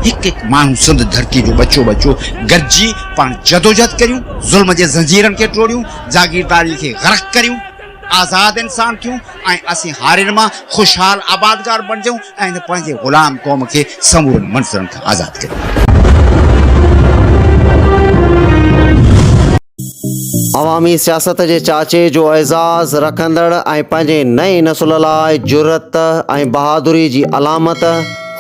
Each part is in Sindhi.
هڪ هڪ ماڻهو سنڌ ڌرتي جو ٻچو ٻچو گڏجي پاڻ جدوجهد ڪريون ظلم جي زنجيرن کي ٽوڙيون جاگيرداري کي غرق ڪريون آزاد انسان ٿيون ۽ اسين هارين مان خوشحال آبادگار بڻجون ۽ هن پنهنجي غلام قوم کي سمورن منظرن کان آزاد ڪريون عوامي سياست جي چاچي جو اعزاز رکندڙ ۽ پنهنجي نئين نسل لاء جرئت ۽ بهادري جي علامت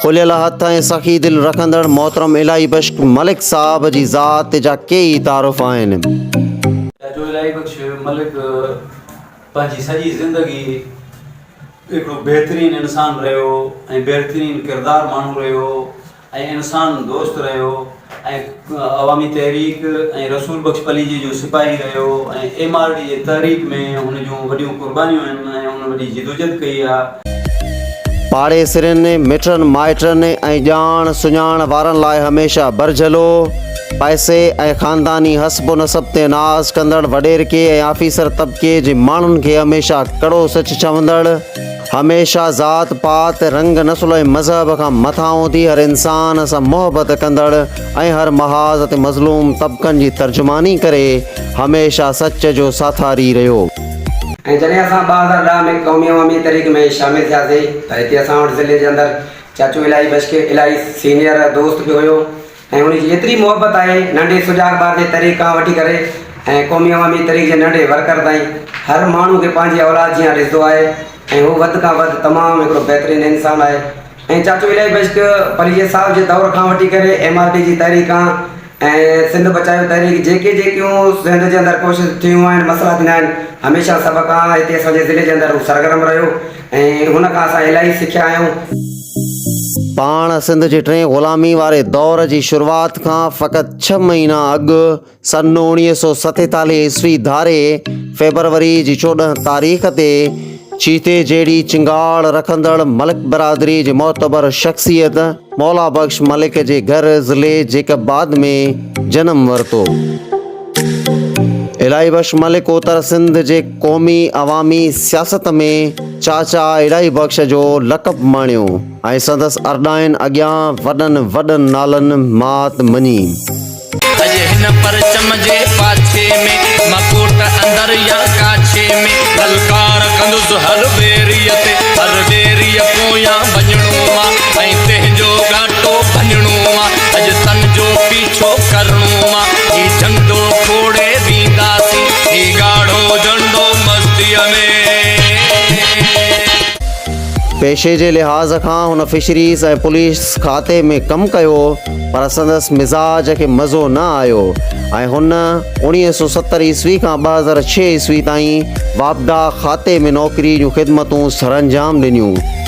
کليل هٿ ۽ سخي دل رکندڙ محترم الاهي بخش ملڪ صاحب جي ذات جا ڪي ئي تعارف آهن. چاچو الاهي بخش ملڪ پنهنجي سڄي زندگي هڪڙو بهترين انسان رهيو ۽ بهرترين ڪردار ماڻهو رهيو ۽ انسان دوست رهيو ۽ عوامي تحريڪ ۽ رسول بخش پليجي جو سپاهي رهيو ۽ ايم آر ڊي جي تحريڪ ۾ هن جون وڏيون قربانيون آهن ۽ هن وڏي جدوجھد ڪئي آهي. پاڙيسرين، مٽن مائٽن ۽ ڄاڻ سڃاڻ وارن لاء هميشه برجھلو، پئسي ۽ خانداني حسب و نسب تي ناز ڪندڙ وڏيرڪي ۽ آفيسر طبقي جي ماڻهن کي هميشه ڪڙو سچ چوندڙ، هميشه ذات پات، رنگ، نسل ۽ مذهب کان مٿان اٿي هر انسان سان محبت ڪندڙ ۽ هر محاذ تي مظلوم طبقن جي ترجماني ڪري هميشه سچ جو ساٿاري رهيو. ۽ جڏهن اسان ٻه هزار ڏهه ۾ قومي عوامي تحريڪ ۾ شامل ٿياسين ته هتي اسان وٽ ضلعي جي اندر چاچو الاهي بشڪي الاهي سينيئر دوست به هيو، ۽ ان جي ايتري محبت آهي ننڍي سجاڳ ٻار جي تري کان وٺي ڪري ۽ قومي عوامي تري جي ننڍي ورڪر تائين هر ماڻهو کي پنهنجي اولاد جيان ڏسدو آهي ۽ هو وڌ کان وڌ تمام هڪڙو بهترين انسان آهي ۽ چاچو الائي بشڪ پليجي صاحب جي دور کان وٺي ڪري ايم آر ڊي جي تحريڪ کان ۽ سنڌ بچايو تحريڪ جيڪي جيڪيون سنڌ جي اندر ڪوشش ٿيون آهن مسئلا ٿيندا آهن هميشه سڀ کان هتي اسان جي ضلعي جي اندر هو سرگرم رهيو. ۽ هن کان اسان الاهي سکيا آهيون. پاڻ سنڌ جي ٽين غلامي واري دور جي شروعات کان فقط ڇهه مهينا اڳ سن اوڻيهه سو ستيتاليهه عيسوي ڌاري فيبروري جي چوڏهن تاريخ تي چيتي جهڙي چنگاڙ رکندڙ ملڪ برادري جي معتبر شخصيت مولا بخش ملڪ جي گهر ضلعي جيڪب آباد ۾ جنم ورتو. الاهي بخش ملڪ اتر سنڌ جي قومي عوامي سياست ۾ چاچا الاهي بخش جو لقب ماڻيو ۽ سندس ارڏائين اڳيان وڏن وڏن نالن مات مڃي. اڄ هن پرچم جي پاڇي ۾، مڪوٽ اندر يا ڪاڇي ۾، للڪار ڪندس هر ويريء تي، هر ويريء پويان وڃڻو آ، ۽ تنهنجو ڳاٽو ڀڃڻو آ، اڄ تن جو پي. ڇو ڪرڻو آ هي جهنڊو کوڙي وينداسين هي ڳاڙهو جهنڊو مستيء ۾. پيشي جي لحاظ کان هن فشريز ۽ پوليس کاتي ۾ ڪم ڪيو پر سندس مزاج کي مزو نه آيو ۽ هن اوڻيهه سؤ ستر عيسوي کان ٻه هزار ڇهه عيسوي تائين واپڊا کاتي ۾ نوڪري جون خدمتون سرانجام ڏنيون.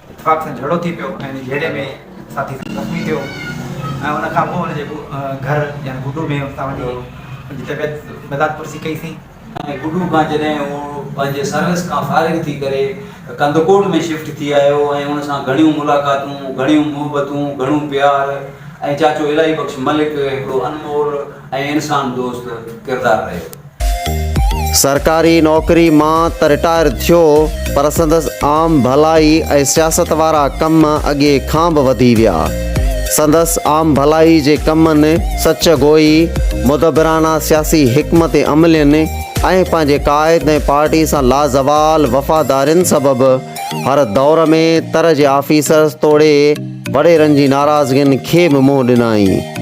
اتفاق سان جهيڙو ٿي پيو ۽ ان جهيڙي ۾ ساٿي زخمي ٿيو ۽ ان کان پوء ان جي گهر يعني گڊو ۾ اتان وٺي ان جي طبيعت مداد پرسي ڪئي سين. گڊو کان جڏهن هو پنهنجي سروس کان فارغ ٿي ڪري ڪنڌڪوٽ ۾ شفٽ ٿي آيو ۽ ان سان گهڻيون ملاقاتون، گهڻيون محبتون، گهڻو پيار ۽ چاچو الاهي بخش ملڪ هڪڙو انمول ۽ انسان دوست ڪردار رهيو. سرڪاري نوڪري مان ته رٽائر ٿيو پر سندس عام ڀلائي ۽ سياست وارا ڪم اڳي کان به وڌي ويا. سندس عام ڀلائي جي ڪمن، سچ گوئي، مدبرانه سياسي حڪمت عملين ۽ پنهنجي قائد ۽ پارٽي سان لازوال وفادارين سبب هر دور ۾ تر جي آفيسرز توڙي وڏيرن جي ناراضگين کي به منهن ڏنائين.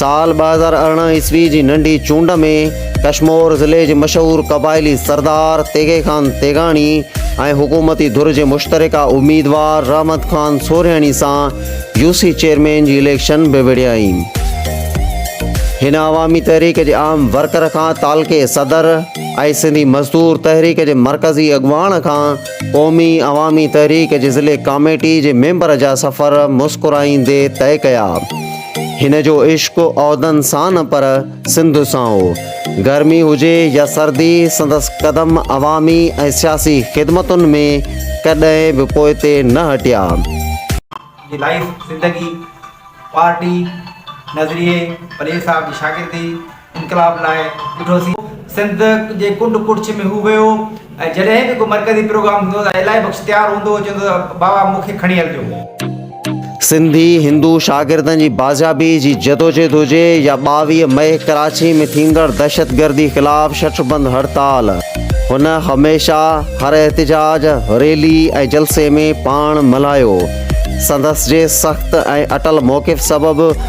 سال ٻه هزار ارڙهن عيسوي جي ننڍي چونڊ ۾ ڪشمور ضلعي جي مشهور قبائلي سردار تيغي خان تيغاڻي ۽ حڪومتي ڌر جي مشترڪه اميدوار رحمت خان سورهياڻي سان يو سي چيئرمين جي اليڪشن به وڙهيائين. هن عوامي تحريڪ جي اهم ورڪر کان تعلقي صدر ۽ سنڌي مزدور تحريڪ جي مرڪزي اڳواڻ کان قومي عوامي تحريڪ جي ضلعي ڪاميٽي جي ميمبر جا سفر مسڪرائيندي طئي ڪيا. هن جو عشق عهدن سان نه پر سنڌ سان هو. گرمي هجي يا سردي سندس قدم عوامي ۽ سياسي خدمتن ۾ ڪڏهن به پوئتي نه هٽيا. جي لائف زندگي، پارٽي، نظريي، پلير صاحب جي شاگردي، انقلاب لاء ڏٺو سين. سنڌ جي ڪنڊ ڪڙڇ ۾ هو ويو ۽ جڏهن به ڪو مرڪزي پروگرام هوندو هو ته الائي بخش تيار هوندو هو چوندو هو بابا مون کي کڻي هلجو. سنڌي هندو شاگردن جي بازيابي جي جدوجهد هجي يا ٻاويهه مئي ڪراچي ۾ ٿيندڙ دهشتگردي خلاف شٽر بند هڙتال هن هميشه هر احتجاج، ريلي ۽ جلسي ۾ پاڻ ملهايو. سندس جي سخت ۽ اٽل موقف سبب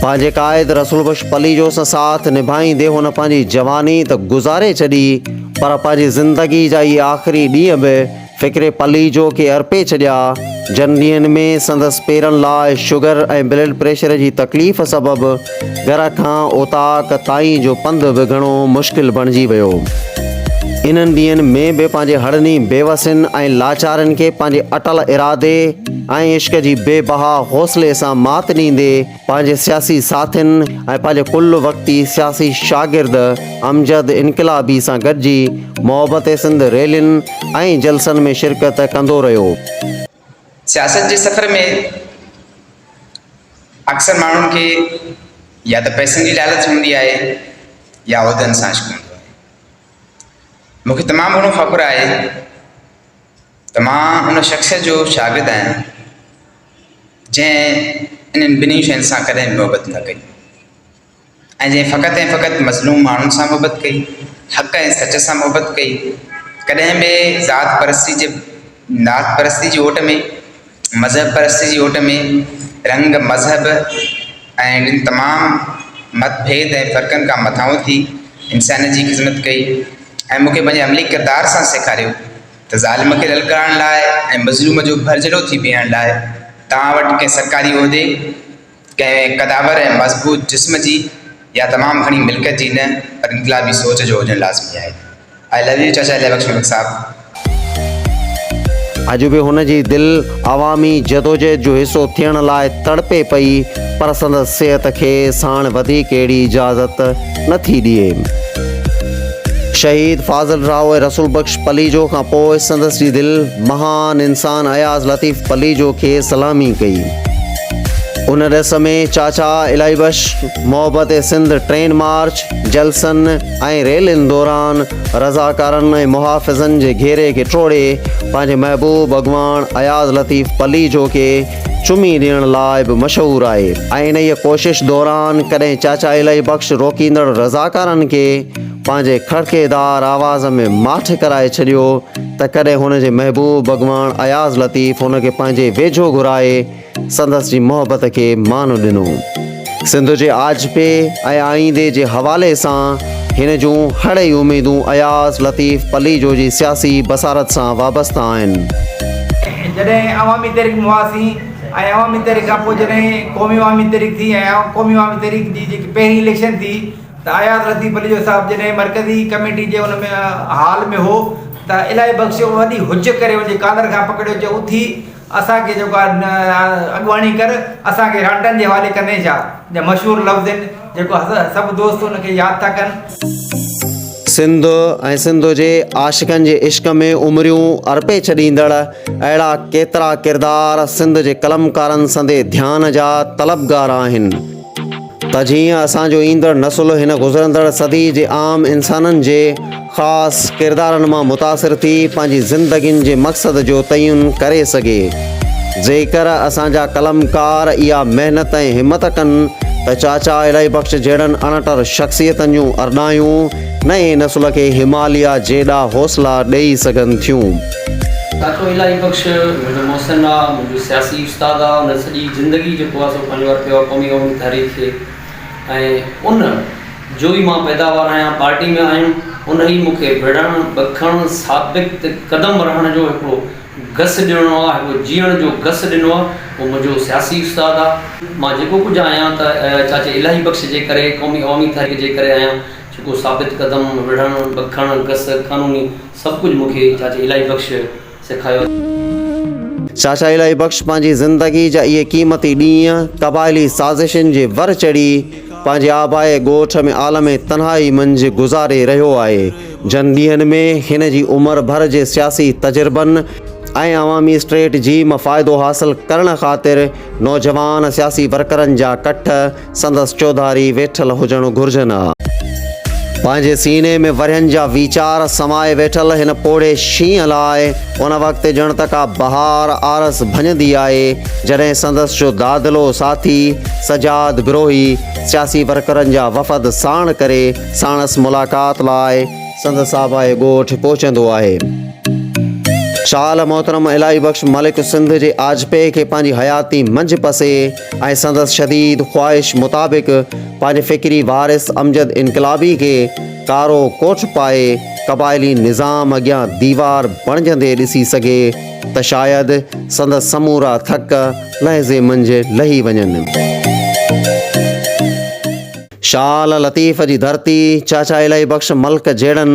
پنهنجي قائد رسول بخش پليجو سان ساٿ نڀائيندي هن پنهنجي جواني ته گذاري ڇڏي پر پنهنجي زندگي جا اهي آخري ڏينهن به فڪر پليجو کي ارپي ڇڏيا جن ڏينهن ۾ سندس پيرن لاء شگر ۽ بلڊ پريشر جي تڪليف سبب گهر کان اوطاق تائين جو پنڌ به گهڻو مشڪل بڻجي ويو. انهن ڏينهن ۾ به پنهنجي هڙني بيوسين ۽ لاچارين کي پنهنجي اٽل ارادي ۽ عشق جي بي بها حوصلي سان مات ڏيندي پنهنجي سياسي ساٿين ۽ پنهنجي ڪل وقتي سياسي شاگرد امجد انقلابي سان گڏجي محبت سنڌ ريلين ۽ جلسن ۾ شرڪت ڪندو رهيو. سياست جي سفر ۾ اڪثر ماڻهن کي يا ته پئسن جي لالچ هوندي آهي يا عهدن سان عشق هوندو آهي مون کي تمام گهڻو فخر آهي ته مان ان شخص جو شاگرد آهيان جنهن انهن ٻنهي شين سان ڪڏهن محبت نه ڪئي ۽ جنهن فقط ۽ فقط مظلوم ماڻهن سان محبت ڪئي، حق ۽ سچ سان محبت ڪئي، ڪڏهن به ذات پرستي جي ذات پرستي جي اوٽ ۾، مذهب پرستي جي اوٽ ۾، رنگ، مذهب ۽ ٻين تمام مت ڀيد ۽ فرقن کان مٿانهون اٿي انسانيت جي خدمت ڪئي ۽ مون کي پنهنجي عملي ڪردار سان سيکاريو ته ظالم کي للڪارڻ لاء ۽ مظلوم جو ڀرجهلو ٿي بيهڻ لاء توهان وٽ ڪنهن سرڪاري عهدي ڪنهن قدآور ۽ مضبوط جسم جي يا تمام گهڻي ملڪيت جي نه پر انقلابي سوچ جو هجڻ لازمي آهي. آء لو يو چاچا الهي بخش ملڪ صاحب. اڄ به هن جي دل عوامي جدوجهد جو حصو ٿيڻ لاء تڙپي پئي پر سندس صحت کي ساڻ وڌيڪ اهڙي اجازت نه ٿي ڏئي. شهيد فاضل راهو ۽ رسول بخش پليجو کان پوء سندس جي دل مهان انسان اياز لطيف پليجو کي سلامي ڪئي. ان ريس ۾ چاچا الاهي بخش محبت سنڌ ٽرين مارچ، جلسن ۽ ريلين دوران رضاڪارن ۽ محافظن جي گهيري کي ٽوڙي پنهنجي محبوب اڳواڻ اياز لطيف پليجو کي چمي ڏيڻ لاء به مشهور آهي ۽ انهيء ڪوشش دوران ڪڏهن چاچا الاهي بخش روڪيندڙ رضاڪارن کي پنهنجي کڙڪي دار آواز ۾ ماٺ ڪرائي ڇڏيو ته ڪڏهن هن جي محبوب اڳواڻ اياز لطيف هن کي پنهنجي ويجهو گهرائي سندس جي محبت کي مان ڏنو. سنڌ جي آجپي ۽ آئيندي جي حوالي سان هن جون هڙئي اميدون اياز لطيف پليجو جي سياسي بصارت سان وابسته آهن. جڏهن عوامي تحريڪ ۾ هئاسين ۽ عوامي تحريڪ کان پوء جڏهن قومي عوامي تحريڪ ٿي ۽ قومي عوامي تحريڪ جي جيڪي پهرين اليڪشن ٿي اياز لطيف پليجو صاحب جڏهن مرڪزي ڪميٽي جي ان ۾ حال ۾ هو ته الاهي بخش وڏي هج ڪري ان جي ڪالر کان پڪڙيو چيو اٿي اسان کي جيڪو آهي اڳواڻي ڪر اسان کي رانڊن جي حوالي ڪندين ڇا جا مشهور لفظ آهن جيڪو سڀ دوست ان کي ياد ٿا ڪن. سنڌ ۽ سنڌ جي عاشقن جي عشق ۾ عمريون ارپي ڇڏيندڙ اهڙا ڪيترا ڪردار سنڌ جي قلمڪارن سندي ڌيان جا طلبگار آهن. ته جيئن اسان جو ايندڙ نسل هن گذرندڙ صدي جي عام انسانن جي خاص ڪردارن مان متاثر ٿي پنهنجي زندگين جي مقصد جو تعين ڪري سگهي. جيڪر اسان جا قلمڪار اها محنت ۽ همت ڪن ته چاچا الاهي بخش جهڙن اڻٽر شخصيتن جون ارڏايون نئين نسل کي هماليا جيڏا حوصلا ڏئي سگهن ٿيون. ڏاڪٽر الاهي بخش منهنجو محسن آ، منهنجو سياسي استاد آ، هن سڄي زندگي جيڪو آ سو پنهنجو ارپيو آ قومي عوامي تحريڪ کي ۽ ان جو ئي مان پيداوار آهيان، پارٽي ۾ آهيم ان ئي مون کي وڙهڻ، بکڻ، ثابت قدم رهڻ جو هڪڙو گس ڏنو آ، هڪڙو جيئڻ جو گس ڏنو آ، هو منهنجو سياسي استاد آ. مان جيڪو ڪجهه آهيان ته چاچي الاهي بخش جي ڪري، قومي عوامي تحريڪ جي ڪري آهيان، جيڪو ثابت قدم، وڙهڻ، بکڻ، گس، قانوني سڀ ڪجهه مون کي چاچي الاهي بخش سيکاريو. چاچا الاهي بخش پنهنجي زندگي جا اهي قيمتي ڏينهن قبائلي سازشن جي ور چڙهي پنهنجي آبائي ڳوٺ ۾ عالم تنهائي منجهه گذاري رهيو آهي، جن ڏينهن ۾ هن جي عمر ڀر جي سياسي تجربن ۽ عوامي اسٽريٽ جي م فائدو حاصل ڪرڻ خاطر نوجوان سياسي ورڪرن جا ڪٺ سندس چوڌاري ويٺل هجڻ گهرجن ها. پنهنجي سيني ۾ ورهين جا ويچار سمائي ويٺل هن پوڙهي شينهن لاء ان وقت ڄڻ ته ڪا بهار عارض ڀڃندي آهي، جڏهن سندس جو دادلو ساٿي سجاد گروهي سياسي ورڪرن جا وفد ساڻ ڪري ساڻس ملاقات لاء، سندس آبائي ڳوٺ پهچندو آهي. شال محترم الاهي بخش ملڪ سنڌ جي آجپي کي پنهنجي حياتي منجهه پسي، ۽ سندس شديد خواهش مطابق پنهنجي فڪري وارث امجد انقلابي کي ڪارو ڪوٺ پائي قبائلي نظام اڳيان ديوار بڻجندي ڏسي سگهي ته شايد سندس سمورا ٿڪ لحظي منجهه لهي وڃن. شال لطيف جي ڌرتي، چاچا الهي بخش ملڪ جهڙن.